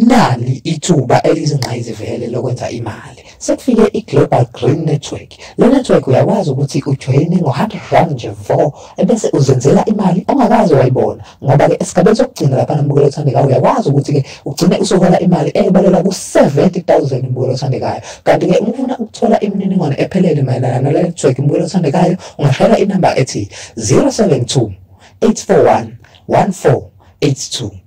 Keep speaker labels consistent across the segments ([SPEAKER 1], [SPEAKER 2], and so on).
[SPEAKER 1] Nali ithuba elizingqayizivele lokwenza imali. Sekufike i-Global Green Network. Le network uyakwazi ukuthi ujoyine ngo-100 rand nje vo ebese uzenzela imali ongakaze wayibona ngoba-ke esigabeni sokugcina lapha nambukelo othandekayo uyakwazi ukuthi-ke ugcine usuhola imali eyebalela ku-70 000 imbukelo othandekayo kanti-ke uma ufuna ukuthola imininingwane ephelele mayelana nale network imbukelo othandekayo ungashayela inamba ethi 072 841 1482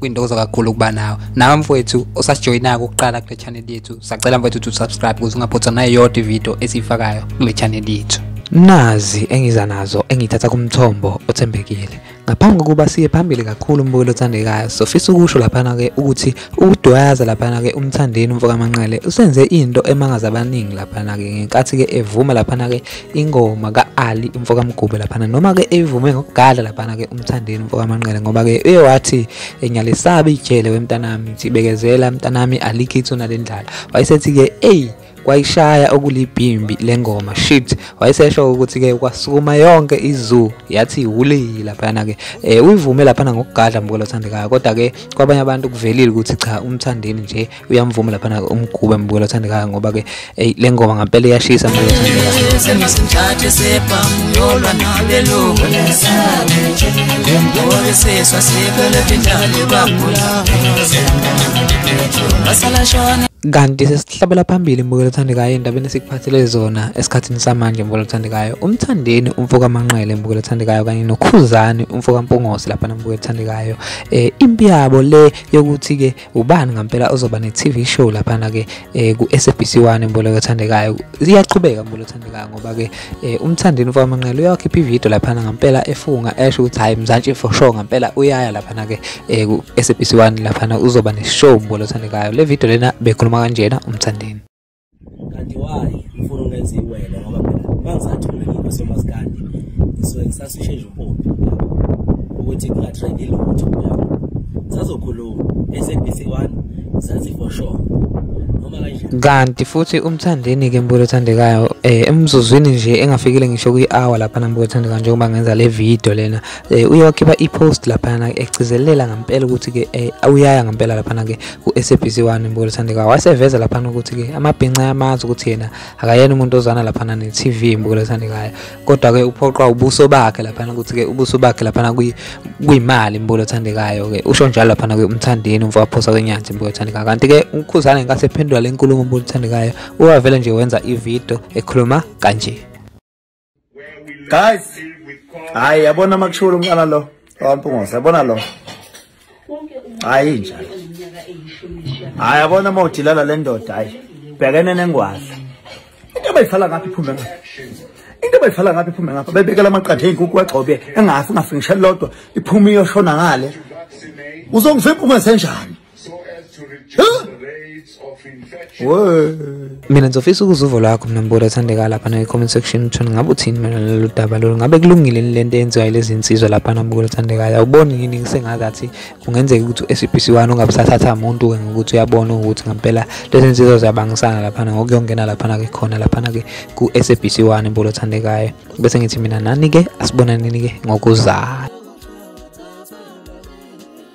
[SPEAKER 2] kwintokozo kakhulu ukuba nawe nawe mfowethu osasijoyinako ukuqala kule channel yethu sacela mfowethu to subscribe ukuze ungaphothwa nayo yodwa ividiyo esiyifakayo kule channel yethu nazi engiza nazo engithatha kumthombo othembekile ngaphambi kokuba siye phambili kakhulu umbukeli othandekayo sofisa ukusho laphana-ke ukuthi ukudwayaza laphana-ke umthandeni umfokamanqele usenze into emangaza abaningi laphana-ke ngenkathi-ke evuma laphana-ke ingoma ka-ali umfo kamgube laphana noma-ke eyivume ngokugala laphana-ke umthandeni umfo kamanqele ngoba-ke uye wathi ngiyalisabi ijele wemntanami ngithi bekezela mntanami alikho ithuna le ndlala wayesethi-ke eyi kwayishaya okulibhimbi lengoma shit wayesesho ukuthi ke kwasukuma yonke izoo yathi wuli laphana ke eh uyivume laphana ngokugadla mbukelo othandekayo kodwa ke kwabanye abantu kuvelile ukuthi cha umthandeni nje uyamvuma lapha nake umgube mbukela othandekayo ngoba ke hey le ngoma ngampela iyashisa mbukela othandekayo
[SPEAKER 3] kanti sesihlabela
[SPEAKER 2] phambili mbukelo othandekayo endabeni esikuphathele zona esikhathini samanje mbukelo othandekayo umthandeni umfoka manqele mbukelo othandekayo kanye nokhuzani umfoka mpungose lapha nambukelo othandekayo um eh, impi yabo le yokuthi-ke ubani ngampela ozoba ne-tv show laphana-ke um ku-sabc one mboleko othandekayo iyaqhubeka mbolo othandekayo ngoba-ke um umthandini ufamanqela uyawakhipha ividiyo laphana ngampela efunga esho ukuthi hhayi mzantshi for sure ngampela uyaya laphana-ke um ku-sabc one laphana uzoba ne-show mbolo othandekayo le vidiyo lena bekhuluma kanjena umthandini kanti
[SPEAKER 4] wayi ufuna ungenza iwele ngoba phela mangisathi mina ngikho semasikandi ngisuke ngisasishe nje umpompi ukuthi kungatrendi lutho sazokhuluma esabc one sazi for sure kanti futhi
[SPEAKER 2] umthandeni-ke mbulo othandekayo um eh, emzuzwini nje engafikile ngisho kwi-hour laphana mbulo othandekayo njengoba ngenza le video lena um eh, uye wakhipha i-post laphana egcizelela ngempela ukuthi-ke um uyaya ngempela laphana-ke ku-SABC 1 Mbukelo Thandekayo waseveza laphana ukuthi-ke amabhinca ayamazi ukuthi yena akayena umuntu ozana laphana ne-TV Mbukelo Thandekayo kodwa-ke uphoqwa ubuso bakhe laphana ukuthi-ke ubuso bakhe laphana kuyimali Mbukelo Thandekayo-ke usho njalo laphana-ke umthandeni umfo waphosa kwenyanzi Mbukelo Thandekayo kanti-ke ukhuzane ngenkathi ephendula le nkulumo Mbukelo Thandekayo uwavele nje wenza ividiyo ekhuluma kanje
[SPEAKER 5] guys hayi yabona makushula umqala lo owampungosa yabona lo hayi njalo hayi yabona uma udilala le ndoda hayi bhekene nengwadla into abayifala ngapha iphume ngapha into abayifala ngapha iphume ngapha bebekela amaqatha ey'nkukhu wagxobe engafi ngafi ngishe lodwa iphume iyoshona ngale uzongivimpa ungesenjani
[SPEAKER 2] mina ngizofisa ukuza uvo lwakho mina mbulo ethandeka lapha nakwi-comment section uthona ngabe uthini mina lolu daba lolu ngabe kulungile ni le nto eyenziwa yilezi nsizwa lapha nambulo ethandekayo awuboni yini ngisengazathi kungenzeka ukuthi u-sabc one ungabe sathatha muntu-ke ngokuthi uyabona ukuthi ngampela lezi nsizwa ziyabangisana laphana ngokuyongena laphana ke khona laphana ke ku-sabc one mbulo ethandekayo bese ngithi mina nani-ke asibonanini-ke ngokuzayo